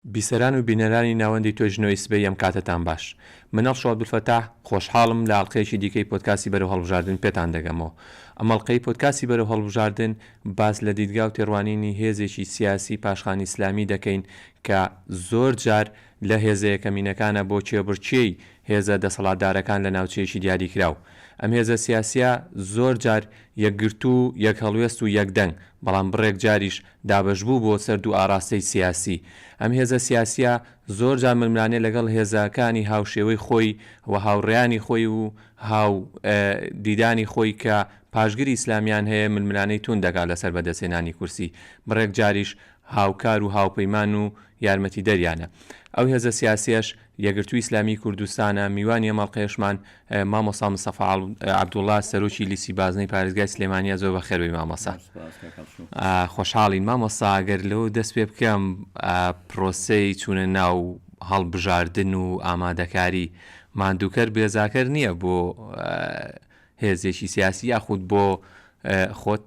بیسەران و بینەرانی ناوەندی تۆی ژنۆی سبەی ئەم کاتەتان باش. منەڵ شۆ عەبدولفەتاح، خۆشحاڵم لە ئەڵقەیەکی دیکەی پۆدکاستی بەرەو هەڵبژاردن پێتان دەگەمەوە. ئەم ئەڵقەی پۆدکاستی بەرەو هەڵبژاردن باس لە دیدگا و تێڕوانینی هێزێکی سیاسی پاشخانی ئیسلامی دەکەین کە زۆر جار لە هێزە یەکەمینەکانە بۆ کێبڕکێی هێزە دەسەڵاتدارەکان لە ناوچەیەکی دیاریکراو. ئەم هێزە سیاسییە زۆر جار یەکگرتوو، یەکهەڵوێست و یەکدەنگ، بەڵام بڕێک جاریش دابەشبوو بۆ سەر دوو ئاڕاستەی سیاسی. ئەم هێزە سیاسییە زۆر جار ململانێ لەگەڵ هێزە کانی هاوشێوەی خۆی و هاوڕێیانی خۆی و هاو دیدانی خۆی کە پاشگری ئیسلامیان هەیە ململانێی توند دەکات لە سەر بەدەست هێنانی کورسی بڕێک جاریش هاوکار و هاوپەیمان و یارمەتیدەریانە. ئەو هێزە سیاسیەش یەکگرتووی ئیسلامیی کوردستانە، میوانی ئەم ئەڵقەیەشمان مامۆستا مستەفا عەبدوڵا سەرۆکی لیستی بازنەی پارێزگای سلێمانییە، زۆر بەخێر بێی مامۆستا. خۆشحاڵین. مامۆستا گەر لەوە دەست پێ بکەم، پرۆسەی چوونە ناو هەڵبژاردن و ئامادەکاری، ماندووکەر بێزاکەر نییە بۆ هێزێکی سیاسی یاخود بۆ خۆت؟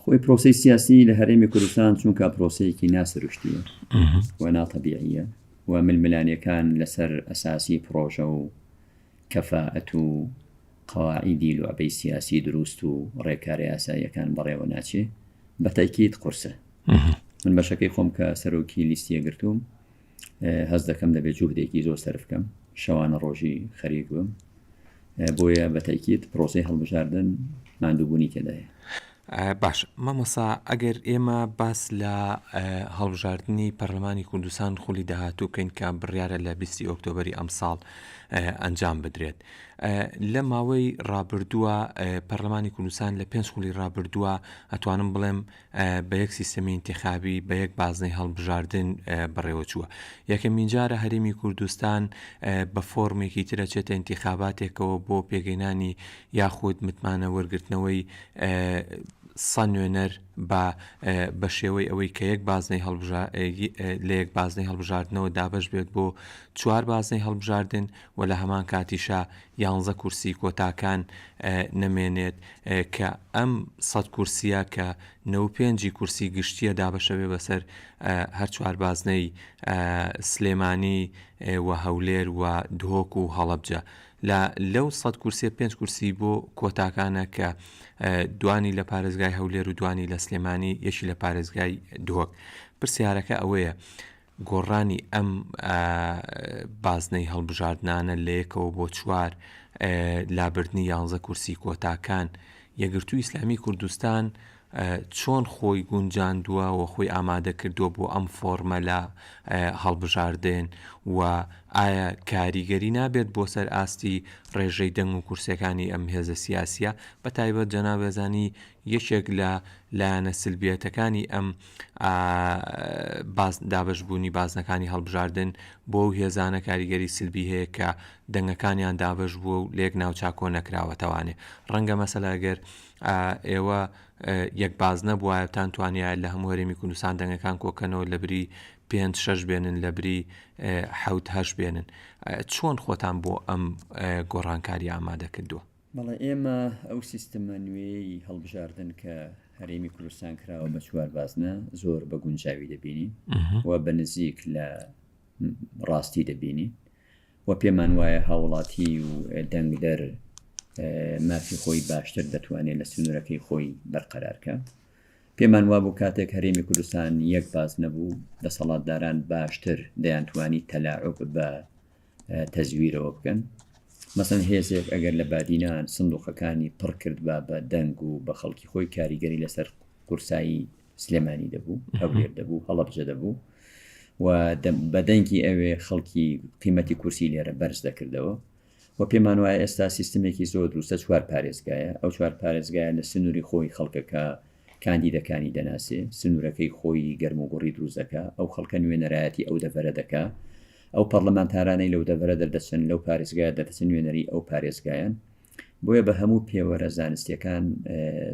خۆی پرۆسی سیاسی لە هەرێمی کوردستان چونکە پرۆسەیەکی ناسروشتیە و ناتەبیعە و ململانەکان لەسەر ئەساسی پرۆژە و کەفاەت و قەواعیدی لوعبەی سیاسی دروست و ڕێکارە یاساییەکان بەڕێوە ناچێ بە تایکیت قورسە من بەشەکەی خۆم کە سەرۆکی لیستیە گرتووم هەست دەکەم دەبێت جوهدێکی زۆر سەرف بکەم شەوانە ڕۆژی خەریک بم بۆیە بە تاکیت پرۆسی هەڵبژاردن ماندووبوونی تێدایە باش مامۆسا ئەگەر ئێمە باس لە هەڵبژاردننی پەرلەمانی کوردستان خولی داهاتوو بکەین کە بڕیاە لە 20 ئۆکتۆبری ئەمساڵ ئەنجام بدرێت لە ماوەی ڕابردووە پەرلەمانی کوردستان لە پێنج خولی ڕابردووە ئەتوانم بڵێم بە یەک سیستەمی ئینتیخابی، بە یەک بازنەی هەڵبژاردن بەڕێوەچووە. یەکەمینجارە هەرێمی کوردستان بە فۆرمێکی تر ئەچێتە ئینتیخاباتێکەوە بۆ پێگەینانی یاخود متمانە وەرگرتنەوەی سە نوێنەر بە بە شێوەی ئەوەی کە یەک بازنەی هەڵبژا لە یەک بازنەی هەڵبژاردنەوە دابەش بێت بۆ چوار بازنەی هەڵبژاردن و لە هەمان کاتیشا یانزە کورسی کۆتاکان نەمێنێت کە ئەم سەد کورسیە کە نەوەد و پێنج ی کورسی گشتیە دابەشەبێ بەسەر هەر چوار بازنەی سلێمانی و هەولێر و دهۆک و هەڵەبجە لە لەو سەد کورسیە پێنج کورسی بۆ کۆتاکانە کە دوانی لە پارێزگای هەولێر و دوانی لە سلێمانی یەکی لە پارێزگای دهۆک پرسیارەکە ئەوەیە گۆڕانی ئەم بازنەی هەڵبژاردنانە لە یەکەوە بۆ چوار، لابردنی یانزە کورسی کۆتاکان، یەکگرتووی ئیسلامی کوردستان چۆن خۆی گونجاندووە و خۆی ئامادەکردووە بۆ ئەم فۆڕمە لە هەڵبژاردن و ئایا کاریگەری نابێت بۆ سەر ئاستی ڕێژەی دەنگ و کورسیەکانی ئەم هێزە سیاسیە بە تایبەت جەنابێزانی یەکێک لە لایەنە سلبیەتەکانی ئەم دابەشبوونی بازنەکانی هەڵبژاردن بۆ ئەو هێزانە کاریگەری سلبی هەیە کە دەنگەکانیان دابەش بووە و لە یەک ناوچە کۆ نەکراوەتەوانێ ڕەنگە مەسەلا ئەگەر ئێوە یەک باز نەبووایەتان توانیایە لە هەموو هەرێمی کوردستان دەنگەکان کۆکەنەوە لە بری پێنج شەش بێنن لە بری حوت هەش بێنن چۆن خۆتان بۆ ئەم گۆڕانکاری ئامادە کردووە بەڵێ ئێمە ئەو سیستمە نوێیەی هەڵبژاردن کە هەرێمی کوردستان کراوە بە چوار بازنە زۆر بە گونجاوی دەبینی و بە نزیک لە ڕاستی دەبینی و پێمان وایە هاوڵاتی و دەنگدەر مافی خۆی باشتر دەتوانێت لە سنوورەکەی خۆی بەرقەرارکە پێمان وابوو کاتێک هەرێمی کوردستان یەک باز نەبوو دەسەڵاتداران باشتر دەیانتوانی تەلاعب بە تەزویرەوە بکەن مەسن هێزێک ئەگەر لە بادینان سندوقەکانی پڕ کرد با بە دەنگ و بە خەڵکی خۆی کاریگەری لەسەر قورسایی سلێمانی دەبوو هەولێر دەبوو هەڵبجە دەبوو و بەدەنگی ئەوێ خەڵکی قیمەتی کورسی لێرە بەرز دەکردەوە و پێمان وایە ئێستا سیستمێکی زۆر دروستە چوار پارێزگایە ئەو چوار پارێزگایە لە سنووری خۆی خەڵکەکە کاندیدەکانی دەناسێ، سنوورەکەی خۆیی گەرموگوڕی دروست دەکا، ئەو خەڵکە نوێنەرایەتی ئەو دەڤەرە دەکا، ئەو پەڕلەمانتارانەی لەو دەڤەرە دەردەچن، لەو پارێزگایە دەردەچن نوێنەری ئەو پارێزگایەن. بۆیە بە هەموو پێوەرە زانستییەکان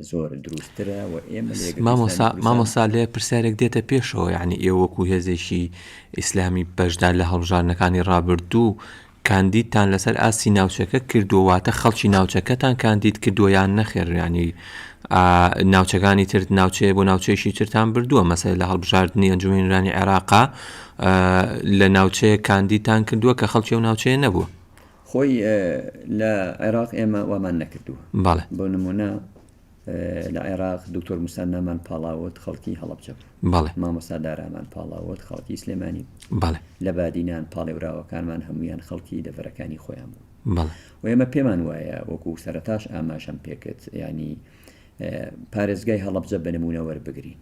زۆر دروستترە و ئێمە لێ گرتن مامۆستا دەنەکوزان. مامۆستا لێ پرسیارێک دێتە پێشەوە یعنی ئێوە وەکو هێزێکی ئیسلامی بەشدار لە هەڵبژاردنەکانی ڕابردوو کاندیدتان لەسەر ئاستی ناوچەکە کردووە واتە خەڵکی ناوچەکەتان کاندید کردووە یان نەخێر ینی ناوچەکانی ترت ناوچەیە بۆ ناوچەیشی ترتان بردووە مەسەر لە هەڵبژاردننی ئەنجومێنرانی عێراقا لە ناوچەیە کاندیدتان کردووە کە خەڵکی و ناوچەیە نەبووە خۆی لە عێراق ئێمە وامان نەکردووە بەڵێ بۆ نمونە لە عێراق، دکتۆر موسا نامان پاڵاوت خەڵکی هەڵەبجە بوو. بەڵێ. مامۆستا دارامان پاڵاوت خەڵکی سلێمانی بوو. بەڵێ. لە بادینان پاڵێوراوەکانمان هەموویان خەڵکی دەڤەرەکانی خۆیان بوون. بەڵێ. و ئێمە پێمان وایە وەکوو سەرەتاش ئاماژەم پێ کرد یانی پارێزگای هەڵەبجە بە نموونە وەربگرین.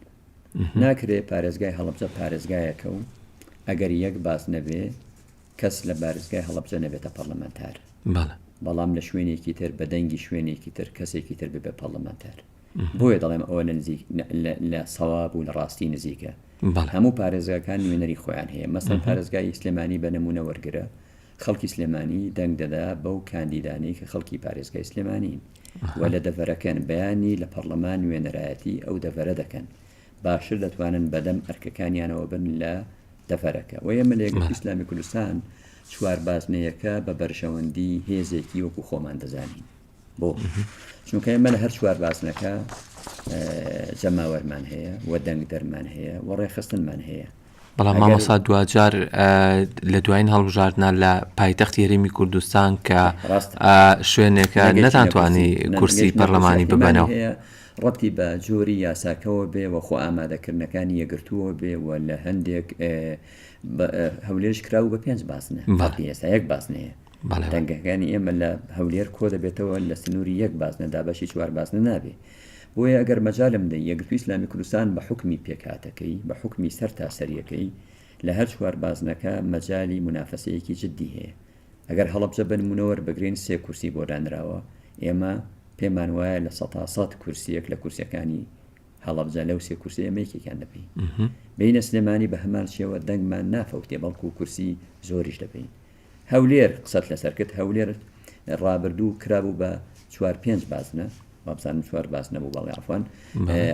ناکرێ پارێزگای هەڵەبجە پارێزگایەکە و ئەگەر یەک باس نەبێ کەس لە بارزگای هەڵەبجە نەبێتە پەڕلەمانتار، بەڵام لە شوێنێکی تر بە دەنگی شوێنێکی تر کەسێکی تر ببێ پەڕلەمانتار. بۆیە دەڵێم ئەوە لە سەواب و لە ڕاستی نزیکە. هەموو پارێزگاکان نوێنەری خۆیان هەیە. مەسەڵەن پارێزگای سلێمانی بە نموونە وەرگرە، خەڵکی سلێمانی دەنگ دەدا بەو کاندیدانەی کە خەڵکی پارێزگای سلێمانین و لە دەڤەرەکەن، بەیانی لە پەڕلەمان نوێنەرایەتی ئەو دەڤەرە دەکەن. باشتر دەتوانن بەدەم ئەرکەکانیانەوە بن لە دەڤەرەکە و ئێمە لە یەکگرتووی ئیسلامی کوردستان چوار بازنەیەکە بە بەرژەوەندی هێزێکی وەکو خۆمان دەزانین بۆ چونکە ئێمە لە هەر چوار بازنەکە جەماوەرمان هەیە و دەنگ دەرمان هەیە و ڕێخستنمان هەیە بەڵام مامۆسا دواجار لە دوایین هەڵبژاردنا لە پایتەخت یاریمی کوردستان کە شوێنێکە نەتانتوانی کورسی پەرلەمانی ببەنەوە ڕەتی بە جۆری یاساکەەوە بێ و خۆ ئامادەکردنەکانی یەگرتووە بێ و لە هەندێک هەولێش کراو بە پێنج باسنە ئێستا یەک باسنەیە دەنگەکانی ئێمە لە هەولێر کۆ دەبێتەوە لە سنووری یەک بازنە دابەشی چوار بازنە نابێ بۆیە ئەگەر مەجالم دەی یەکگرتووی ئیسلامی کوردستان بە حوکمی پێکهاتەکەی بە حوکمی سەرتاسەریەکەی لە هەر چوار بازنەکە مەجالی مونافەسەیەکی جددی هەیە ئەگەر هەڵەبجە بە نموونە وەربگرین سێ کورسی بۆ دانراوە ئێمە پێمان وایە لە سەتا سەد کورسیەک لە کورسەکانی هەڵەبجە لەو سێ کورسی ئێمە یەکێکیان دەبین بینە سلێمانی بە هەمان شێوە دەنگمان نافەوتێ بەڵکو کورسی زۆریش دەبین هەولێر قسەت لەسەر کرد هەولێر ڕابردوو کرابوو بە چوار پێنج بازنە وابزانم چوار باز نەبوو بەڵێ ئەفان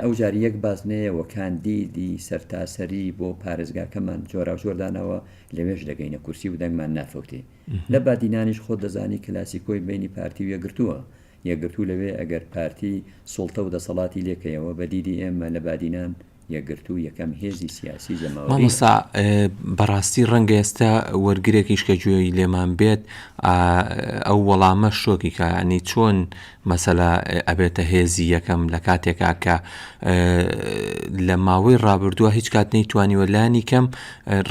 ئەو جاری یەک باز نەیەوە کاندیدی سەرتاسەری بۆ پارێزگاکەمان جۆرا جۆردانەوە لەوێش دەگەینە کورسی و دەنگمان نافەوتێ لە بادینانیش خۆ دەزانی کلاسیکۆی بینی پارتی و یەگرتووە یەگرتوو لەوێ ئەگەر پارتی سوڵتە و دەسەڵاتی لێکەیەوە بە دیدی ئێمە لە بادینان یەکگرتوو یەکەم هێزی سیاسی جەماوەریە. مامۆستا بەڕاستی ڕەنگە ئێستا وەرگرێکیش کە گوێی لێمان بێت ئەو وەڵامە شۆکی کە ینی چۆن مەسەلا ئەبێتە هێزی یەکەم لە کاتێکا کە لە ماوەی ڕابردووە هیچ کات نەی توانیوە لانی کەم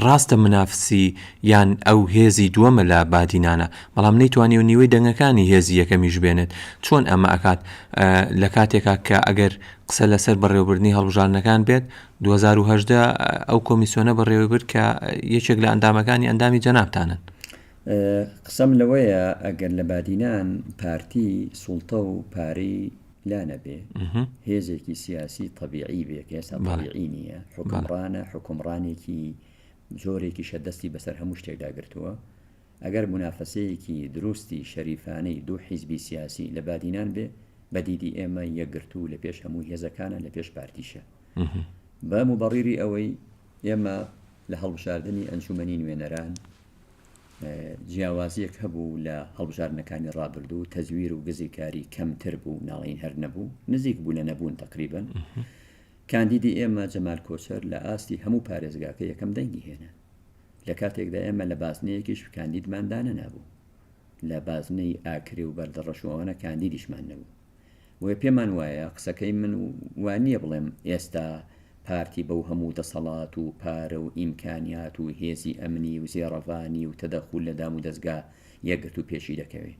ڕاستە منافسی یان ئەو هێزی دووەمە لە بادینانە بەڵام نەی توانی و نیوەی دەنگەکانی هێزی یەکەمیش بێنێت چۆن ئەمە ئەکات لە کاتێکا کە ئەگەر قسە لەسەر بەڕێوەبردنی هەڵبژاردنەکان بێت، دوو هەزار و هەژدە ئەو کۆمیسیۆنە بەڕێوەبرد کە یەکێک لە ئەندامەکانی ئەندامی جەنابتانن. قسەم لەوەیە ئەگەر لە بادینان پارتی سوڵتە و پارەی لا نەبێ هێزێکی سیاسی تەبیعی بێ کە ئێستا تەبیعی نییە حکمڕانە حکمڕانێکی زۆرێکیشە دەستی بەسەر هەموو شتێکدا گرتووە ئەگەر مونافەسەیەکی دروستی شەریفانەی دوو حیزبی سیاسی لە بادینان بێ بە دیدی ئێمە یەکگرتوو لە پێش هەموو هێزەکانە لە پێش پارتیشە بە موبەڕیری ئەوەی ئێمە لە هەڵبژاردننی ئەنجومەنی نوێنەران جیاوازیەک هەبوو لە هەڵبژاردنەکانی ڕابردوو تەزویر و گزیکاری کەمتر بوو ناڵین هەر نەبوو نزیک بوو لە نەبوون تقریبن کاندیدی ئێمە جەمال کۆچەر لە ئاستی هەموو پارێزگاکە یەکەم دەنگی هێنا لە کاتێکدا ئێمە لە بازنەیەکیش کاندیدمان دانەنابوو لە بازنەی ئاکرێ و بەردەڕەش و ئەوانە کاندیدیشمان نەبوو بۆیە پێمان وایە قسەکەی من وانییە بڵێم ئێستا پارتی بەو هەموو دەسەڵات و پارە و ئیمکانیات و هێزی ئەمنی و زێڕەڤانی و تەدەخول لە دام و دەستگا یەکگرتوو پێشی دەکەوێ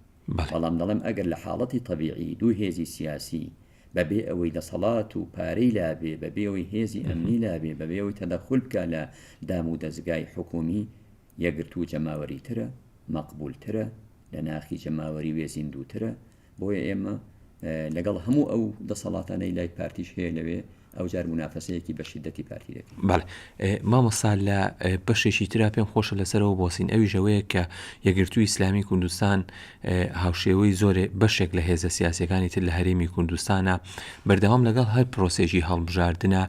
بەڵام دەڵێم ئەگەر لە حاڵەتی تەبیعی دوو هێزی سیاسی بە بێ ئەوەی دەسەڵات و پارەی لابێ، بە بێ ئەوەی هێزی ئەمنی لابێ، بە بێ ئەوەی تەدەخول بکا لە دام و دەزگای حکوومی، یەکگرتوو و جەماوەریترە، مەقبوولترە، لە ناخی جەماوەری وێ زیندووترە، بۆیە ئێمە لەگەڵ هەموو ئەو دەسەڵاتانەی لای پارتیش هەیە لەوێ، ئەوجار مونافەسەیەکی بە شیدەتی پارتی دەکەین. بەڵێ مامۆستا لە بەشێکی ترا پێم خۆشە لەسەرەوە بۆسین ئەویش ئەوەیە کە یەکگرتووی ئیسلامی کوردستان هاوشێوەی زۆرێ بەشێک لە هێزە سیاسەکانی تر لە هەرێمی کوردستانە بەردەوام لەگەڵ هەر پرۆسێکی هەڵبژاردنە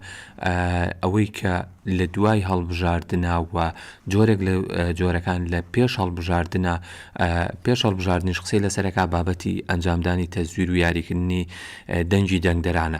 ئەوەی کە لە دوای هەڵبژاردنە و جۆرێک لە جۆرەکان لە پێش هەڵبژاردنە پێش هەڵبژاردنش قسەی لەسەرەکە بابەتی ئەنجامدانی تەزویر و یاریکردنی دەنگی دەنگدەرانە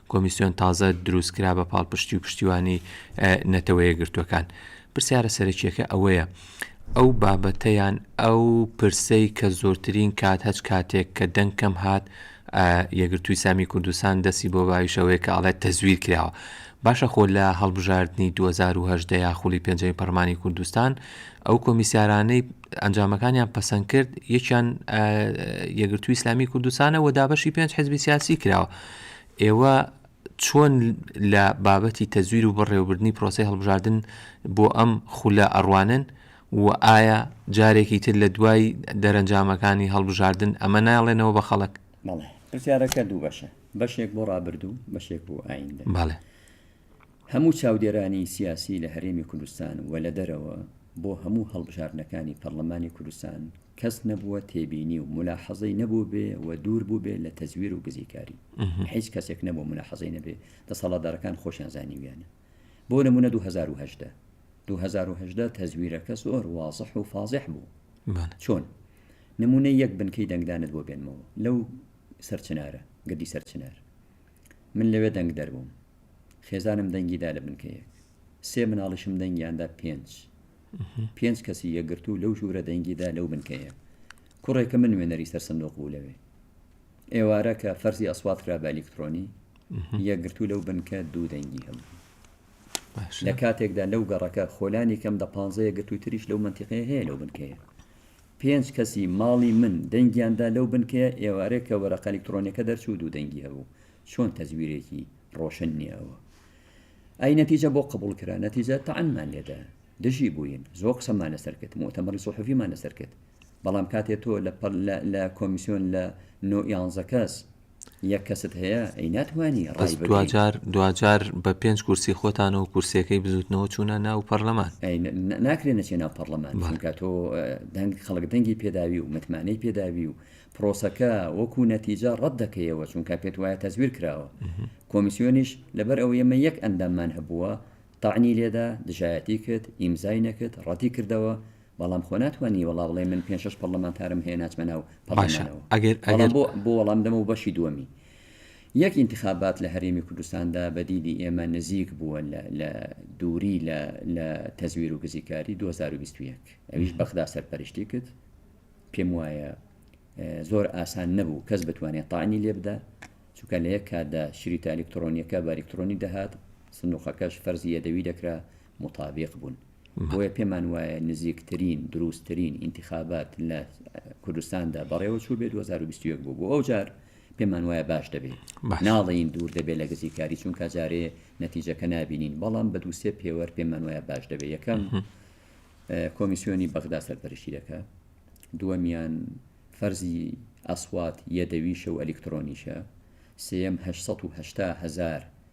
کۆمیسیۆن تازە دروستکرا بە پاڵپشتی و پشتیوانی نەتەوەیەکگرتووەکان. پرسیارە سەرەکییەکە ئەوەیە، ئەو بابەتە یان ئەو پرسەی کە زۆرترین کات هەچ کاتێک کە دەنگ کەم هات یەکگرتووی سامی کوردستان دەستی بۆ باویش ئەوەیە کە ئەڵێت تەزویر کراوە. باشە خۆ لە هەڵبژاردنی دوو هەزار و هەژدە یا خولی پێنجەمی پەڕلمانی کوردستان ئەو کۆمیسیارانەی ئەنجامەکانیان پەسەند کرد یەکیان یەگرتوو ئیسلامی کوردستانە و دابەشی پێنج حزبی سیاسی کراوە ئێوە چۆن لە بابەتی تەزویر و بەڕێوەبردننی پرۆسی هەڵبژاردن بۆ ئەم خولە ئەڕوانن و ئایا جارێکی تر لە دوای دەرەنجامەکانی هەڵبژاردن ئەمە ناڵێنەوە بە خەڵک بەڵێ پرسیارەکە دوو بەشە بەشێک بۆ ڕابردوو بەشێک بۆ ئایندە بەڵێ. هەموو چاودێرانی سیاسی لە هەرێمی کوردستان و لە دەرەوە بۆ هەموو هەڵبژاردنەکانی پەڕلەمانی کوردستان کەس نەبووە تێبینی و مولاحەزەی نەبووبێ و دوور بووبێ لە تەزویر و گزیکاری هیچ کەسێک نەبووە مولاحەزەی نەبێ دەسەڵاتدارەکان خۆشیان زانیویانە بۆ نموونە 2018 2018 تەزویرەکە زۆر وازح و فازح بوو چۆن نمونەی یەک بنکەی دەنگدانت بۆ بێنمەوە لەو سەرچنارە گردی سەرچنار من لەوێ دەنگ دەربووم خێزانم دەنگی دا لە بنکە یەک سێ مناڵیشم دەنگیاندا پێنج پێنج کەسی یەگرتو لەو ژوورە دەنگیدا لەو بنکەیە کوڕێکە من نوێنەری سەر سندۆق بوو لەوێ ئێوارە کە فەرزی ئەسوات کرا بە ئەلیکترۆنی یەکگرتو لەو بنکە دوو دەنگی هەبوو لە کاتێکدا لەو گەڕەکە خۆلانی کەم دە پانزەیە گرتووتریش لەو منتیقەیە هەیە لەو بنکەیە پێنج کەسی ماڵی من دەنگیان دا لەو بنکەیە، ئێوارێ کە وەرەقە ئەلیکترۆنیەکە دەرچوو دوو دەنگی هەبوو، چۆن تەزویرێکی ڕۆشن نیە ئەوە؟ ئەی نەتیجە بۆ قبوڵ کرا؟ نەتیجە تەعنمان لێدا، دژی بووین، زۆر قسەمان لەسەر کرد، موئتەمەڕی سوحوفیمان لەسەر کرد، بەڵام کاتێ تۆ لە لە کۆمیسیۆن لە نۆ یانزە کەس یەک کەست هەیە ئەی ناتوانی ڕای بەس دواجار دواجار بە پێنج کورسی خۆتانەوە کورسەکەی بزوتنەوە چوونە ناو پەرلەمان ناکرێن نەچێ ناو پەرلەمان بەڵکە تۆ دەنگ خەڵک دەنگی پێداوی و متمانەی پێداوی و پرۆسەکە وەکو نەتیجە ڕەت دەکەیەوە چونکە پێت وایە تەزویر کراوە کۆمیسیۆنیش لەبەر ئەو ئێمە یەک ئەنداممان هەبووە تاعنی لێدا دژایەتی کرد ئیمزای نەکرد ڕەتی کردەوە بەڵام خۆ ناتوانی وەڵا بڵێ من پێنج شەش پەڕڵەمانتارم هەیە ناچمە ناو باشە پەڕڵەمانەوە ئەگەر بەڵام ئەگەر بۆ بۆ وەڵام دەمەوە بەشی دووەمی یەک ئینتخابات لە هەرێمی کوردستاندا بە دیدی ئێمە نزیک بووە لە لە دووری لە لە تەزویر و گزیکاری 2021 ئەویش بەغدا سەرپەرشتی کرد پێم وایە اه، زۆر ئاسان نەبوو کەس بتوانێت تاعنی لێ بدا چونکە لە یەک کاتدا شریتە ئەلکترۆنیەکە بە ئەلکترۆنی دەهات سندوقەکەش فەرزی یەدەوی دەکرا موتابیق بوون بۆیە پێمان وایە نزیکترین دروستترین ئینتخابات لە کوردستاندا بەڕێوە چوو بێت 2021 بوو بۆ ئەو جار پێمان وایە باش دەبێت ناڵین دوور دەبێت لە گزیکاری چونکە جارێ نەتیجەکە نبینین بەڵام بە دووسێ پێوەەر پێمان وایە باش دەبێت یەکەم کۆمیسیۆنی بەغدا سەرپەرشی دەکە دووەمیان فەرزی ئەسوات یەدەویشە و ئەلکترۆنیشە سم 1970 هزار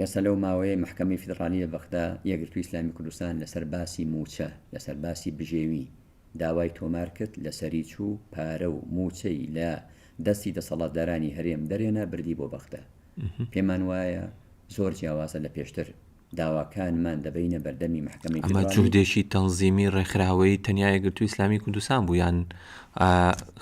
ئێستا لەو ماوەیەی مەحکەمەی فیدڕالی لە بەغدا، یەکگرتووی ئیسلامی کوردستان لەسەر باسی مووچە، لەسەر باسی بژێوی داوای تۆمار کرد، لەسەری چوو، پارە و مووچەی لە دەستی دەسەڵاتدارانی هەرێم دەرهێنا بردی بۆ بەغدا. پێمان وایە زۆر جیاوازە لە پێشتر، داواکانمان دەبەینە بەردەمی مەحکەمەی فیدڕالی. ئەمە جوهدێکی تەنزیمی ڕێکخراوەیی تەنیا یەکگرتووی ئیسلامی کوردستان بوو یان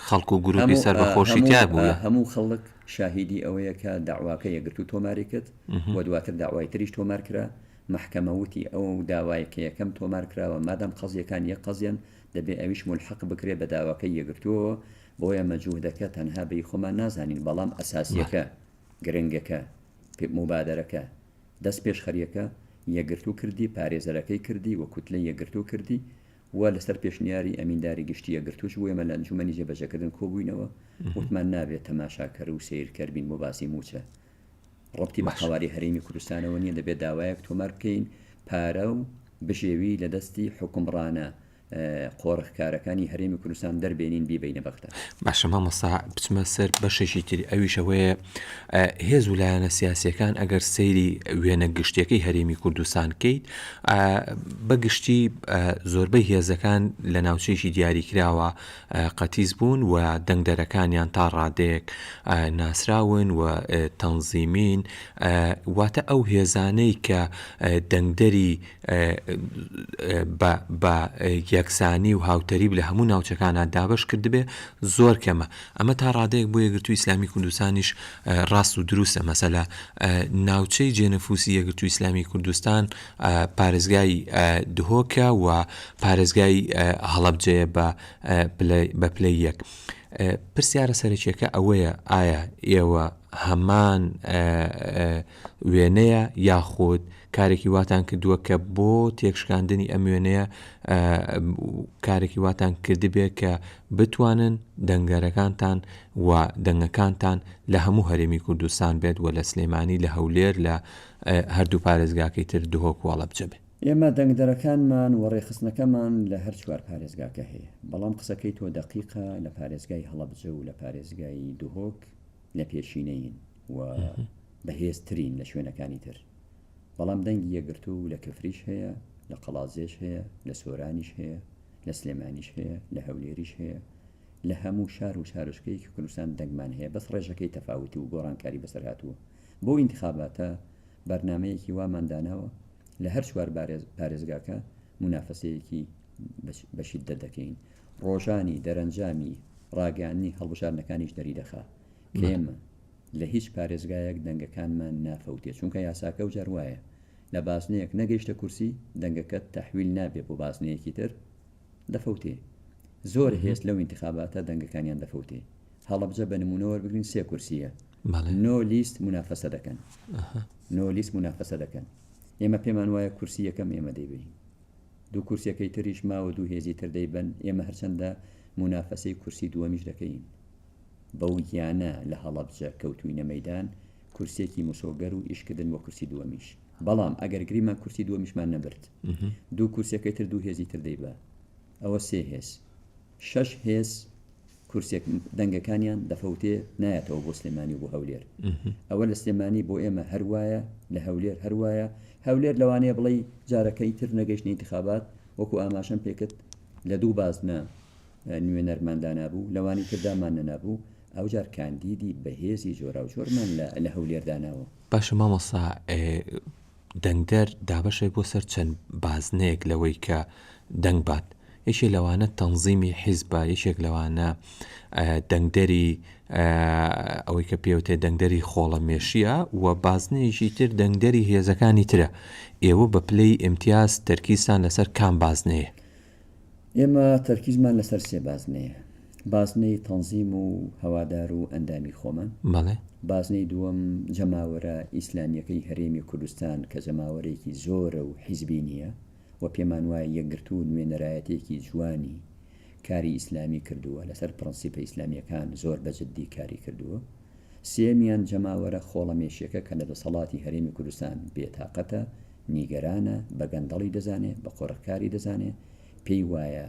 خەڵک و گرووپی سەربەخۆشی تیا بوو؟ هەموو خەڵک. شاهیدی ئەوەیە کە دەعواکە یەکگرتوو تۆماری کرد و دواتر دەعوای تریش تۆمار کرا، مەحکەمە وتی ئەو داوایە کە یەکەم تۆمار کراوە مادام قەزییەکان یەک قەزیەن دەبێ ئەویش مولحەق بکرێ بە داواکەی یەکگرتووەوە، بۆیە مەجوودەکە تەنها بەی خۆمان نازانین بەڵام ئەساسییەکە، گرنگەکە، موبادەرەکە، دەستپێشخەرییەکە، یەکگرتوو کردی، پارێزەرەکەی کردی و کوتلەی یەکگرتوو کردی، و لەسەر پێشنیاری ئەمینداری گشتی یەکگرتووش بوو، ئێمە لە ئەنجوومەنی جێبەجێکردن کۆبووینەوە، وتمان نابێت تەماشاکەر و سەیرکەر بین بۆ باسی مووچە، ڕەبتی بە قەوارەی هەرێمی کوردستانەوە نییە، دەبێت داوایەک تۆمار بکەین پارە و بژێوی لە دەستی حوکمڕانە قۆرخکارەکانی هەرێمی کوردستان دەربێنین بیبەینە بەغدا. باشە مامۆستا بچمە سەر بەشێکی تری ئەویش ئەوەیە هێز و لایەنە سیاسیەکان ئەگەر سەیری وێنە گشتیەکەی هەرێمی کوردستان کەیت بە گشتی زۆربەی هێزەکان لە ناوچەیەکی دیاریکراوە قەتیز بوون و دەنگدەرەکانیان تا ڕادێک ناسراون و تەنزیمین واتە ئەو هێزانەی کە دەنگدەری بە یەکسانی و هاوتەریب لە هەموو ناوچەکانە دابش کردبێ زۆر کەمە ئەمە تا ڕادەیەک بۆ یەکگرتووی ئیسلامی کوردستانیش ڕاست و دروستە، مەسەلا ناوچەی جێنەفوسی یەکگرتووی ئیسلامی کوردستان پارێزگای دهۆکە و پارێزگای هەڵەبجەیە بە بە پلەی یەک. پرسیارە سەرەکیەکە ئەوەیە ئایا ئێوە هەمان وێنەیە یاخود کارێکی واتان کردووە کە بۆ تێکشکاندنی ئەم وێنەیە کارێکی واتان کردبێ کە بتوانن دەنگەرەکانتان و دەنگەکانتان لە هەموو هەرێمی کوردستان بێت و لە سلێمانی لە هەولێر لە هەردوو پارێزگاکەی تر دهۆک و هەڵەبجە بێت. ئێمە دەنگدەرەکانمان و ڕێکخستنەکەمان لە هەر چوار پارێزگاکە هەیە، بەڵام قسەکەی تۆ دەقیقە لە پارێزگای هەڵەبجە و لە پارێزگای دهۆک لە پێشینەین و بەهێزترین لە شوێنەکانی تر. بەڵام دەنگی یەکگرتوو و لە کفریش هەیە، لە قەڵادزێش هەیە، لە سۆرانیش هەیە، لە سلێمانیش هەیە، لە هەولێریش هەیە، لە هەموو شار و شارۆچکەیەکی کوردستان دەنگمان هەیە بەس ڕێژەکەی تەفاوت و گۆڕانکاری بەسەر هاتووە. بۆ ئینتخاباتە بەرنامەیەکی وامان داناوە لە هەر چوار پارێزگاکە مونافەسەیەکی بە شیددەت دەکەین. ڕۆژانی دەرەنجامی ڕاگەیاندنی هەڵبژاردنەکانیش دەریدەخا کە ئێمە. لە هیچ پارێزگایەک دەنگەکانمان نافەوتێ چونکە یاساکە ئەو جار وایە لە بازنەیەک نەگەیشتە کورسی دەنگەکەت تەحویل نابێ بۆ بازنەیەکی تر دەفەوتێ زۆر هێز لەو ئینتخاباتە دەنگەکانیان دەفەوتێ هەڵەبجە بە نمونە وەربگرین سێ کورسیە نۆ لیست منافەسە دەکەن نۆ لیست منافەسە دەکەن ئێمە پێمان وایە کورسی یەکەم ئێمە دەیبین دوو کورسەکەی تریش ماوە دوو هێزی تر دەیبن ئێمە هەرچەندە منافەسەی کورسی دووەمیش دەکەین بەو گیانە لە هەڵەبجە کەوتووینە مەیدان کورسیەکی مسۆگەر و ئیشکردن بۆ کورسی دووەمیش بەڵام ئەگەر گریمان کورسی دووەمیشمان نەبرد دوو کورسەکەی تر دوو هێزی تر دەیبا ئەوە سێ هێز شەش هێز کورسێک دەنگەکانیان دەفەوتێ نایەتەوە بۆ سلێمانی و بۆ هەولێر ئەوە لە سلێمانی بۆ ئێمە هەروایە لە هەولێر هەروایە هەولێر لەوانەیە بڵی جارەکەی تر نەگەشت انتخابات وەکو ئاماشەم پێکرد لە دوو بازنە نوێنەرمان دانابوو، لەوانی تردا مان نەنابوو، ئەوجار کاندیدی بەهێزی جۆراوجۆرمان لە هەولێر داناوە. باشە مامۆستا دەنگدەر دابەشە بۆ سەر چەند بازنەیەک لەوەی کە دەنگ بات، یەکێ لەوانە تەنزیمی حیزبە، یەکێک لەوانە دەنگدەری ئەوەی کە پێوتێ دەنگدەری خۆڵەمێشییە و بازنەیەکی تر دەنگدەری هێزەکانی ترە، ئێوە بە پلەی ئیمتیاز تەرکیزتان لەسەر کام بازنەیە؟ ئێمە تەرکیزمان لەسەر سێ بازنەیە، بازنەی تەنزیم و هەوادار و ئەندامی خۆمان، بازنەی دووەم جەماوەرە ئیسلامیەکەی هەرێمی کوردستان کە جەماوەرێکی زۆرە و حیزبی نیە و پێمان وایە یەکگرتوو و نوێنەرایەتێکی جوانی کاری ئیسلامی کردووە لەسەر پڕەنسیپە ئیسلامیەکان زۆر بە جدی کاری کردووە. سێیەمیان جەماوەرە خۆڵەمێشیەکە کە لە دەسەڵاتی هەرێمی کوردستان بێ تاقەتە، نیگەرانە، بە گەندەڵی دەزانێ، بە قۆرغکاری دەزانێ، پێی وایە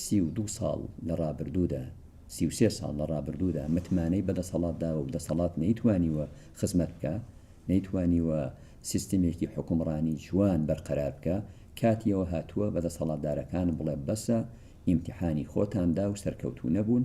سی و دوو ساڵ لە ڕابردوودا، سی و سێ ساڵ لە ڕابردوودا متمانەی بە دەسەڵات داوە و دەسەڵات نەیتوانیوە خزمەت بکا، نەیتوانیوە سیستمێکی حوکمڕانی جوان بەرقەرار بکا، کاتی ئەوە هاتووە بە دەسەڵاتدارەکان بڵێ بەسە، ئیمتیحانی خۆتان دا و سەرکەوتوو نەبوون،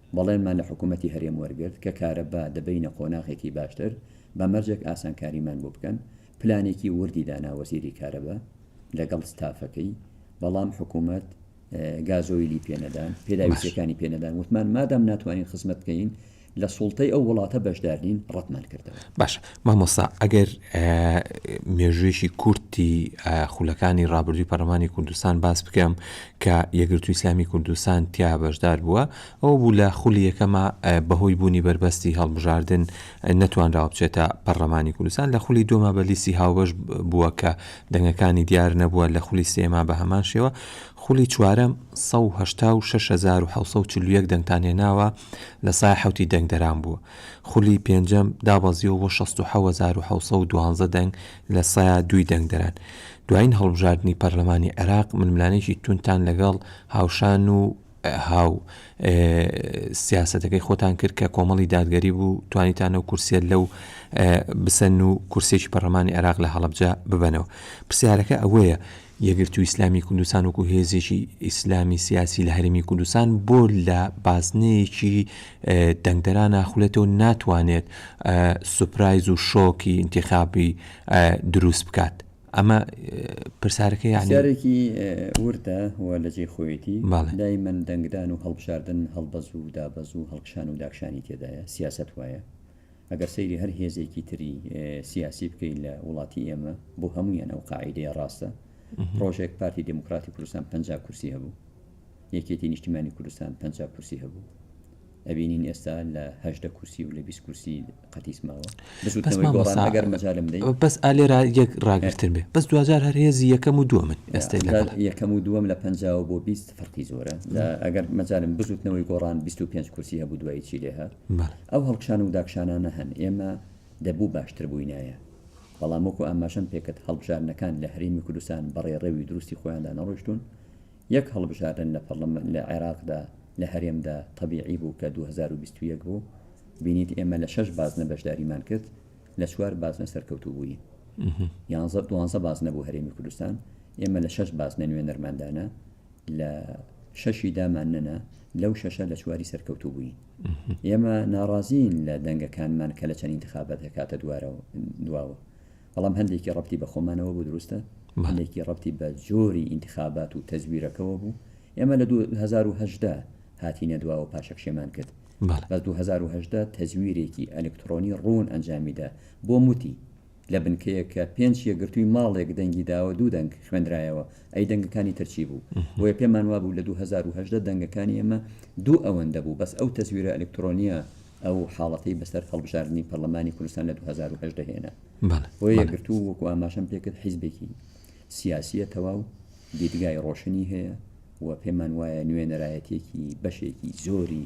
بەڵێنمان لە حکوومەتی هەرێم وەرگرت کە کارەبا دەبەینە قۆناغێکی باشتر، بە مەرجێک ئاسانکاریمان بۆ بکەن، پلانێکی وردی دانا وەزیری کارەبا لەگەڵ ستافەکەی، بەڵام حکوومەت گازۆیلی پێ نەدان، پێداویستییەکانی پێ نەدان، وتمان مادام ناتوانین خزمەت بکەین، لە سوڵتەی ئەو وڵاتە بەشدار نین، ڕەتمان کردەوە. باشە، مامۆستا ئەگەر مێژوویەکی کورتی خولەکانی ڕابردووی پەرلەمانی کوردستان باس بکەم کە یەکگرتوو ئیسلامی کوردستان تیا بەشدار بووە ئەوە بوو لە خولی یەکەما بەهۆی بوونی بەربەستی هەڵبژاردن نەتوانراوە بچێتە پەرلەمانی کوردستان لە خولی دوما بە لیستی هاوبەش بووە کە دەنگەکانی دیار نەبووە لە خولی سێما بە هەمان شێوە خولی چوارەم 186741 دەنگتان هێناوە لە سای حەوتی دەنگدەران بووە خولی پێنجەم دابەزیەوە بۆ شەست و حەوت هەزار و حەوت سەد و دوازدە دەنگ لە سەا دووی دەنگدەران. دوایین هەڵبژاردنی پەرلەمانی عێراق ململانێکی توندتان لەگەڵ هاوشان و هاو سیاسەتەکەی خۆتان کرد کە کۆمەڵی دادگەری بوو توانیتان ئەو کورسیە لەو بسەن و کورسێکی پەرلەمانی عێراق لە هەڵەبجە ببەنەوە. پرسیارەکە ئەوەیە یەکگرتووی ئیسلامی کوردستان وەکو هێزێکی ئیسلامی سیاسی لە هەرێمی کوردستان بۆ لە بازنەیەکی دەنگدەرا ناخولێتەوە ناتوانێت سوپرایز و شۆکی ئینتیخابی دروست بکات ئەمە پرسیارەکەی یانی پرسیارێکی وردە و لە جێی خۆیەتی بەڵێ. دایمەن دەنگدان و هەڵبژاردن هەڵبەز و دابەز و هەڵکشان و داکشانی تێدایە سیاسەت وایە ئەگەر سەیری هەر هێزێکی تری سیاسی بکەیت لە وڵاتی ئێمە بۆ هەمویان ئەو قاعدەیە ڕاستە پرۆژێک پارتی دموکراتی کوردستان پ کورسی هەبوو یەکێتی نیشتیمانی کوردستان پ کورسی هەبوو ئەبینین ئێستا لە هەشدە کورسی و لە بیست کورسی قەتیسماوە بەسوتەگەر مەجالم دەی بەس ئالێرا یەک ڕاگرتر بێ بەس دوجار هەر هێزی یەکەم و دووە من ئێستا یەکەم و دووەم لە پەنجاوە بۆ بیست فەرقی زۆرە ئەگەر مەجالم بزوتنەوەی گۆڕان 25 کورسی هەبوو دوایی چی لێ هات ئەو هەڵکشان و داکشانانە هەن، ئێمە دەبوو باشتر بووینایە، بەڵام وەکو ئاماژەم پێکرد هەڵبژاردنەکان لە هەرێمی کوردستان بە ڕێڕەوی دروستی خۆیاندا نەڕۆیشتوون، یەک هەڵبژاردن لە پەڕلەمان لە عێراقدا لە هەرێمدا تەبیعی بوو کە دوو هەزار و بیست و یەک بوو، بینیت ئێمە لە شەش بازنە بەشداریمان کرد، لە چوار بازنە سەرکەوتوو بووین. یانزە، دوانزە بازنە بوو هەرێمی کوردستان، ئێمە لە شەش بازنە نوێنەرمان دانا. لە شەشی دامان نەنا لەو شەشە لە چواری سەرکەوتوو بووین ئێمە ناڕازین لە دەنگەکانمان کە لە چەند انتخابات دەکاتە دوارەوە دواوە بەڵام هەندێکی ڕەتی بە خۆمانەوە بوو دروستە هەندێکی ڕەتی بە جۆری انتخابات و تەزویرەکەەوە بوو ئێمە لە 2010 هاتینە دواوە پاشەکشێمان کرد بە 2010 تەزویرێکی ئەلکترۆنی ڕوون ئەنجامیدا بۆ موتی لە بنکەیەک کە پێنج یەکگرتووی ماڵێک دەنگی داوە دوو دەنگ خوێندرایەوە ئەی دەنگەکانی تر چی بوو بۆیە پێمان وابوو لە دوو هەزار و هەژدە دەنگەکانی ئێمە دوو ئەوەندە بوو بەس ئەو تەزویرە ئەلکترۆنیە ئەو حاڵەتەی بەسەر هەڵبژاردنی پەرلەمانی کوردستان لە دوو هەزار و هەژدە هێنا بۆ یەکگرتوو وەکو ئاماشەم پێکرد حیزبێکی سیاسیە تەواو دیدگای ڕۆشنی هەیە و پێمان وایە نوێنەرایەتێکی بەشێکی زۆری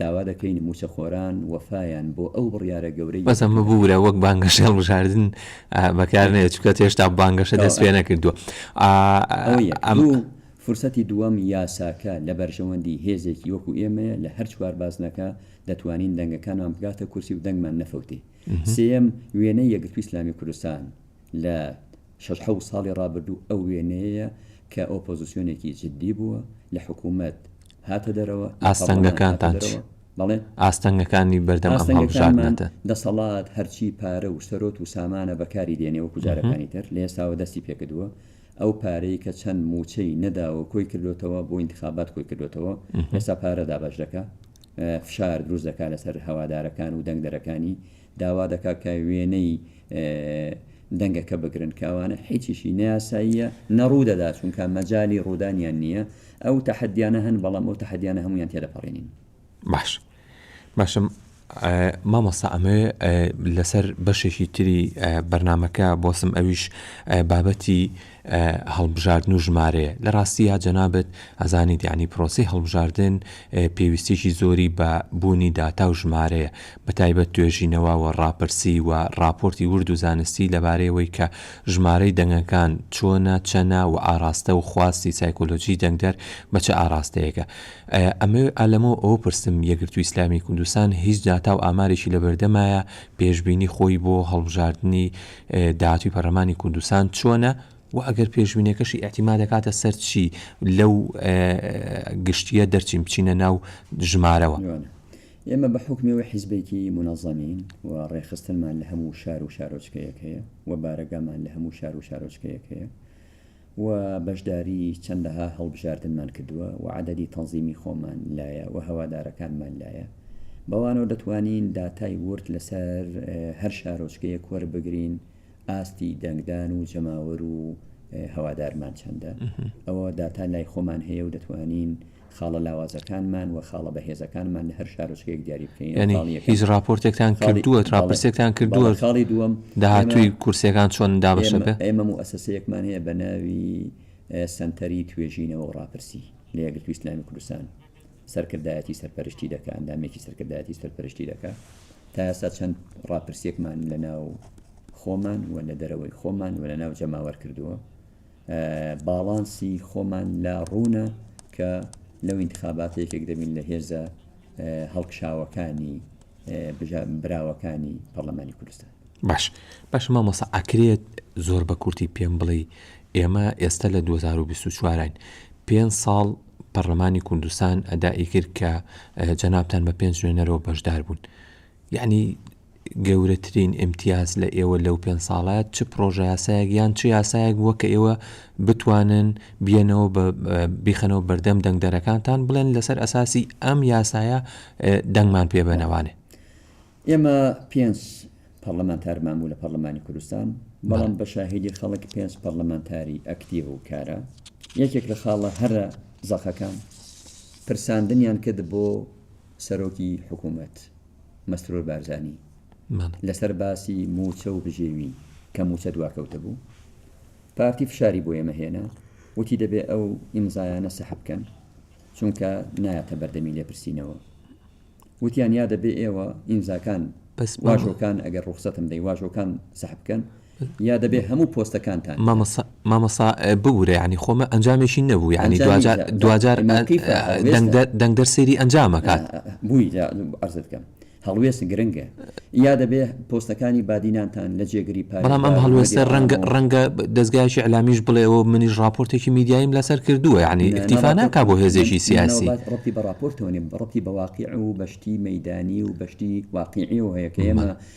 داوا دەکەین مووچەخۆران وەفایان بۆ ئەو بڕیارە گەورەی بەس ئەمە ببورە وەک بانگەشەی هەڵبژاردن بەکار نەیە چونکە هێشتا بانگەشە دەست پێ نەکردووە ئەوە یەک ئەم دوو فرسەتی دووەم یاساکە لە بەرژەوەندی هێزێکی وەکو ئێمەیە لە هەر چوار بازنەکە دەتوانین دەنگەکانمان بگاتە کورسی و دەنگمان نەفەوتێ سێیەم وێنەی یەکگرتووی ئیسلامی کوردستان لە شەش حەوت ساڵی ڕابردوو ئەو وێنەیەیە کە ئۆپۆزسیۆنێکی جددی بووە، لە حکوومەت هاتە دەرەوە، لە پەڕڵەمان هاتە دەرەوە. بەڵێ. ئاستەنگەکانی بەردەم ئەم هەڵبژاردنە دەن. دەسەڵات هەرچی پارە و سەرۆت و سامانە بەکاری دێنێ وەکو جارەکانی تر، لە ئێستاوە دەستی پێ کردووە. ئەو پارەی کە چەند مووچەی نەداوە و کۆی کردۆتەوە، بۆ ئینتخابات کۆی کردۆتەوە. ئێستا پارە دابەش دەکا. فشار دروست دەکا لەسەر هەوادارەکان و دەنگدەرەکانی. داوا دەکات کە وێنەی دەنگەکە بگرن کە ئەوانە هیچیشی نە یاساییە نە ڕوودەدات چونکە مەجالی ڕوودانیان نییە ئەو تەحەدیانە هەن بەڵام ئەو تەحەدیانە هەموویان تێدەپەڕێنین. باش باشم مامۆستا ئەمەوێ لەسەر بەشێکی تری بەرنمەکە بۆسم ئەویش بابەتی هەڵبژاردن و ژمارەیە لە ڕاستیا جەنابت ئەزانیت یەعنی پرۆسەی هەڵبژاردن پێویستیەکی زۆری بە بوونی داتا و ژمارەیە بە تایبەت توێژینەوە و ڕاپرسی و ڕاپۆرتی ورد و زانستی لەبارەی ئەوەی کە ژمارەی دەنگەکان چۆنە چەنە و ئاڕاستە و خواستی سایکۆلۆژی دەنگدەر بە چ ئاڕاستەیەکە ئەمە ئالەمەوە ئەوە پرسم یەکگرتووی ئیسلامی کوردستان هیچ داتا و ئامارێکی لەبەردەمایە پێشبینی خۆی بۆ هەڵبژاردنی داهاتووی پەرلەمانی کوردستان چۆنە و ئەگەر پێشبینیەکەشی ئەتیما دەکاتە سەر چی لەو گشتیە دەرچین بچینە ناو ژمارەوە. ئێمە بە حکمەوەی حیزبێکی منەزەمین و ڕێخستنمان لە هەموو شار و شارۆچکەیەک هەیە و بارەگامان لە هەموو شار و شارۆچکەیەک هەیە و بەشداری چەندەها هەڵبژاردنمان کردووە و عەدەدی تەنزیمی خۆمان لایە و هەوادارەکانمان لایە. بەوانەوە دەتوانین داتای ورد لەسەر هەر شارۆچکەیەک وەربگرین ئاستی دەنگدان و جەماوەر و هەوادارمان چەندە. ئەوە داتا لای خۆمان هەیە و دەتوانین خاڵە لاوازەکانمان و خاڵە بەهێزەکانمان لە هەر شارۆچکەیەک دیاری بکەین. یانی هیچ ڕاپۆرتێکتان کردووە، ڕاپرسێکتان کردووە؟ بەڵێ خاڵی دووەم. داهاتووی کورسییەکان چۆن دابەش دەبێت؟ ئێمە موئەسەسەیەکمان هەیە بە ناوی سەنتەری توێژینەوە و ڕاپرسی لە یەکگرتووی ئیسلامیی کوردستان سەرکردایەتی سەرپەرشتی دەکا، ئەندامێکی سەرکردایەتی سەرپەرشتی دەکا. تا ئێستا چەند ڕاپرسێکمان لەناو خۆمان و لە دەرەوەی خۆمان و لەناو جەماوەر کردووە. باڵانسی خۆمان لا ڕوونە کە لەو انتخاباتە یەکێک دەبین لە هێزە هەڵکشاوەکانی براوەکانی پەرلەمانی کوردستان باش باش مامۆسا ئاکرێت زۆر بە کورتی پێم بڵێ ئێمە ئێستا لە 2024ین پێ ساڵ پەرلەمانی کوردستان ئەدائی کرد کە جەنابان بە پێنج نوێنەرەوە بەشدار بوون یعنی گەورەترین ئیمتیاز لە ئێوە لەو پێنج ساڵە چ پڕۆژەیاسایەک یان چ یاسایەک بووە کە ئێوە بتوانن بیەنەوە بە بیخەنەوە بەردەم دەنگدەرەکانتان بڵێن لەسەر ئەساسی ئەم یاسایە دەنگمان پێ بەنەوانێ؟ ئێمە پێنج پەرلەمانتارمان بوو لە پەرلەمانی کوردستان بەڵام بە شاهیدی خەڵک پێنج پەرلەمانتاری ئەکتیڤ و کارە یەکێک لە خاڵە هەرە زەخەکان پرساندنیان کرد بۆ سەرۆکی حکوومەت، مەسرور بارزانی، لەسەر باسی مووچە و بژێوی کە مووچە دواکەوتە بوو، پارتی فشاری بۆ ئێمە هێنا، وتی دەبێ ئەو ئیمزایانە سەحب بکەن، چونکە نایەتە بەردەمی لێپرسینەوە. وتیان یا دەبێ ئێوە ئیمزاکان، واژۆکان، ئەگەر ڕوخسەتم دەی، واژۆکان سەحب بکەن، یا دەبێ هەموو پۆستەکانتان کە. مامۆستا ببورە یانی خۆمە ئەنجامێکی نەبوو یانی دواجار دەنگدەر سەیری ئەنجام ئەکات. بووی عەرزت کەم هەڵوێست گرنگە یا دەبێ پۆستەکانی بادینانتان لە جێگری پارێزگا بەڵام ئەم هەڵوێستە ڕەنگە دەزگایەکی ئیعلامیش بڵێەوە منیش ڕاپۆرتێکی میدیاییم لەسەر کردووە یانی ئیکتیفا ناکا بۆ هێزێکی سیاسی. ڕەبتی بە ڕاپۆرتەوە نیە ڕەبتی بە واقیع و بە شتی مەیدانی و بە شتی واقیعیەوە هەیە کە ئێمە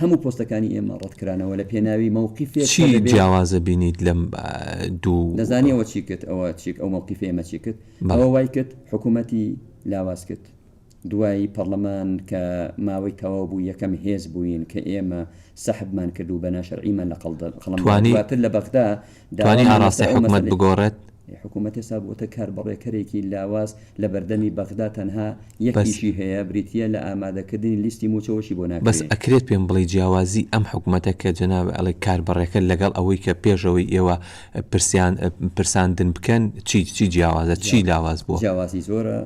هەموو پۆستەکانی ئێمە ڕەت کرانەوە لە پێناوی مەوقیفێک کە دەبێ. چی جیاوازە بینیت لەم دوو. دەزانی ئەوە چی کرد ئەوە چی ئەو مەوقیفە ئێمە چی کرد ئەوە وای کرد حکوومەتی لاواز کرد دوای پەڕڵەمان کە ماوەی تەواو بوو یەکەم هێز بووین کە ئێمە سەحبمان کرد و بە ناشەرعیمان لە قەڵەم دا توانی. دواتر لە بەغدا توانی ئاراستەی حکومەت بگۆڕێت؟ حکومەت ئێستا بووەتە کاربەڕێکەرێکی لاواز لە بەردەمی بەغدا تەنها یەک ئیشی هەیە بریتییە لە ئامادەکردنی لیستی مووچەوەشی بۆ ناکرێ. بەس ئەکرێت پێم بڵێی جیاوازی ئەم حکومەتە کە جەنابت ئەڵێ کاربەڕێکەر لەگەڵ ئەوەی کە پێش ئەوەی ئێوە پرسیان پرساندن بکەن چی چی جیاوازە؟ چی لاواز بووە؟ جیاوازی زۆرە.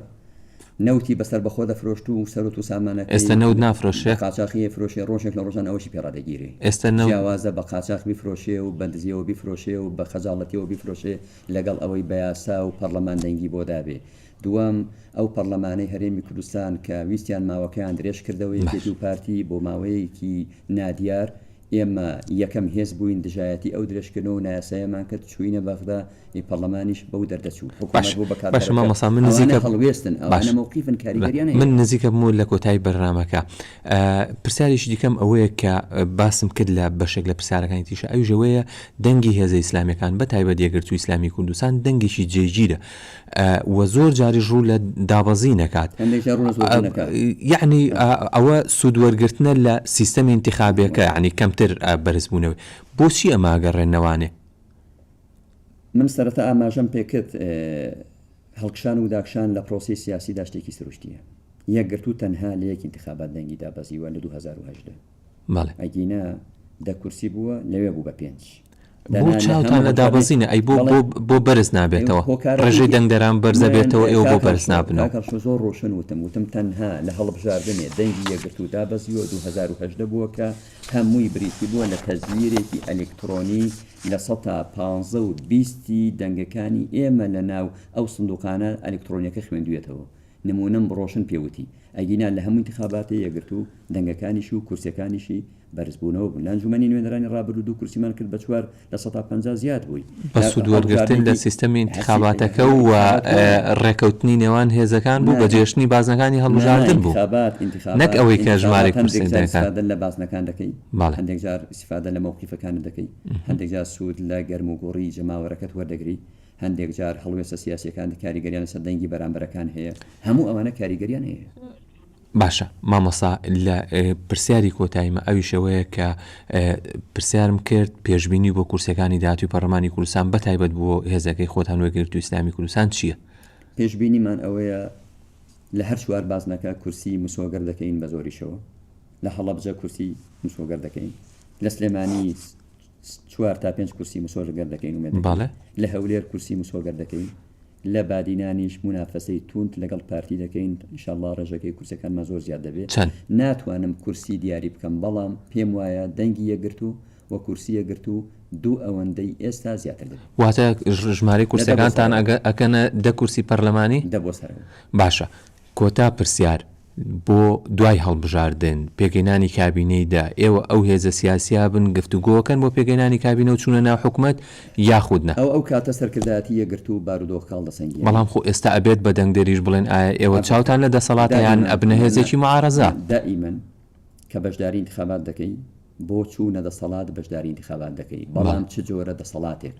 نەوتی بە سەربەخۆ دەفرۆشت و سەروەت و سامانەکەی ئێستا نەوت نافرۆشێ؟ بە قاچاخی ئەیفرۆشێ، ڕۆژێک لە ڕۆژان ئەوەشی پێ ڕادەگیرێ. ئێستا نەوت. جیاوازە بە قاچاخ بیفرۆشێ و بە دزییەوە بیفرۆشێ و بە خەجاڵەتییەوە بیفرۆشێ لەگەڵ ئەوەی بە یاسا و پەڕڵەمان دەنگی بۆ دابێ. دووەم، ئەو پەڕڵەمانەی هەرێمی کوردستان کە ویستیان ماوەکەیان درێژ کردەوە، یەکێتی و پارتی بۆ ماوەیەکی نادیار، ئێمە یەکەم هێز بووین دژایەتی ئەو درێژکردنەوە و نایاساییەمان کرد، چووینە بەغدا، ی پەڕلەمانیش بەو دەردە چوو، حکوومەت بوو بە کارتەرەکە، ئەوانە هەڵوێستن، ئەوانە مەوقیفن، کاریگەریان هەیە. من نزیک ئەبمەوە لە کۆتایی بەرنامەکە. پرسیارێکی دیکەم ئەوەیە کە باسم کرد لە بەشێک لە پرسیارەکانی تریشا، ئەویش ئەوەیە دەنگی هێزە ئیسلامییەکان، بەتایبەت یەکگرتووی ئیسلامیی کوردستان دەنگێکی جێگیرە، و زۆر جاریش ڕوو لە دابەزین ئەکات یعنی ئەوە سوودوەرگرتنە لە سیستەمی انتخابەکە عنی کەمتر بەرزبوونەوە بۆچی ئەماگەڕێنەوانێ من سەرەتا ئاماژەم پێکرد هەڵکشان و داکشان لە پرۆسی سیاسی داشتێکی سروشتیە یەکگرتو تەنها لە یەک انتخابات دەنگی دابەزیوە لە 2010 بەڵێ. ئەگینا دە کورسی بووە لەوێ بوو بە پێنج. بۆ چاوتان لە دابەزینە ئەی بۆ بۆ بۆ بەرز نابێتەوە ڕێژەی دەنگدەران بەرزە بێتەوە ئێوە بۆ بەرز نابنەوە. کاک هەڵکۆ زۆر ڕۆشن وتم وتم تەنها لە هەڵبژاردنێ دەنگی یەکگرتوو دابەزیوە دوو هەزار و هەژدە بووە کە هەمووی بریتی بووە لە تەزویرێکی ئەلیکتڕۆنی لە سەتا پانزە و بیستی دەنگەکانی ئێمە لەناو ئەو سندوقانە ئەلیکتڕۆنیەکە خوێندویەتەوە نموونەم ڕۆشن پێ وتی ئەگینا لە هەموو ئینتخاباتی یەکگرتوو دەنگەکانیشی و کورسیەکانیشی بەرزبوونەوە بوون لە ئەنجومەنی نوێنەرانی ڕابردوو دوو کورسیمان کرد بە چوار لە سەدا پەنجا زیاد بووین بە سوود وەرگرتن لە سیستەمی ئینتخاباتەکە و ڕێکەوتنی نێوان هێزەکان بوو بە جێشتنی بازنەکانی هەڵبژاردن بوو نەک ئەوەی کە ژمارەی کورسی دەکات. هەندێک جار هەڵوێستە سیاسیەکان کاریگەریان لەسەر دەنگی بەرامبەرەکان هەیە، هەموو ئەوانە کاریگەریان هەیە. باشە مامۆستا لە پرسیاری کۆتایمە ئەویشەوەیە کە پرسیارم کرد پێشببینی بۆ کورسەکانی داهاتوی پەرلەمانی کوردستان بە تایبەت بۆ هێزەکەی خۆتان وەگرتو ئیسلامی کوردستان چییە؟ پێشبینیمان ئەوەیە لە هەر چوار بازنەکە کورسی مسۆگەر دەکەین بە زۆریشەوە، لە هەڵەبجە کورسی مسۆگەر دەکەین، لە سلێمانی، چوار تا پێنج کورسی مسۆگەر دەکەین و مێدەکەین لە هەولێر کورسی مسۆگەر دەکەین لە بادینانیش منافەسەی توند لەگەڵ پارتی دەکەین انشاءاللە ڕێژەکەی کورسەکانمان زۆر زیاد دەبێت چەند ناتوانم کورسی دیاری بکەم بەڵام پێم وایە دەنگی یەگرت و و کورسی یەگرت و دوو ئەوەندەی ئێستا زیاتر دەبێت واتە ژمارەی کورسەکانتان ئەگە ئەکەنە دە کورسی پەرلەمانی دە بۆ سەر باشە کۆتا پرسیار بۆ دوای هەڵبژاردن، پێکهێنانی کابینەی دە، ئێوە ئەو هێزە سیاسییە بن گفتوگۆکەن بۆ پێکهێنانی کابینە و چوونە ناو حکومەت یاخود نا؟ ئەو ئەو کاتە سەرکردایەتی یەکگرتوو بارودۆخ کاڵدەسەنگێنێ. بەڵام خۆ ئێستا ئەبێت بە دەنگدەریش بڵێن ئایا ئێوە چاوتان لە دەسەڵاتە یان ئەبنە هێزێکی معارەزە؟ دائیمەن کە بەشداری ئینتخابات دەکەی، بۆ چوونە دەسەڵات بەشداری ئینتخابات دەکەی، بەڵام چ جۆرە دەسەڵاتێک؟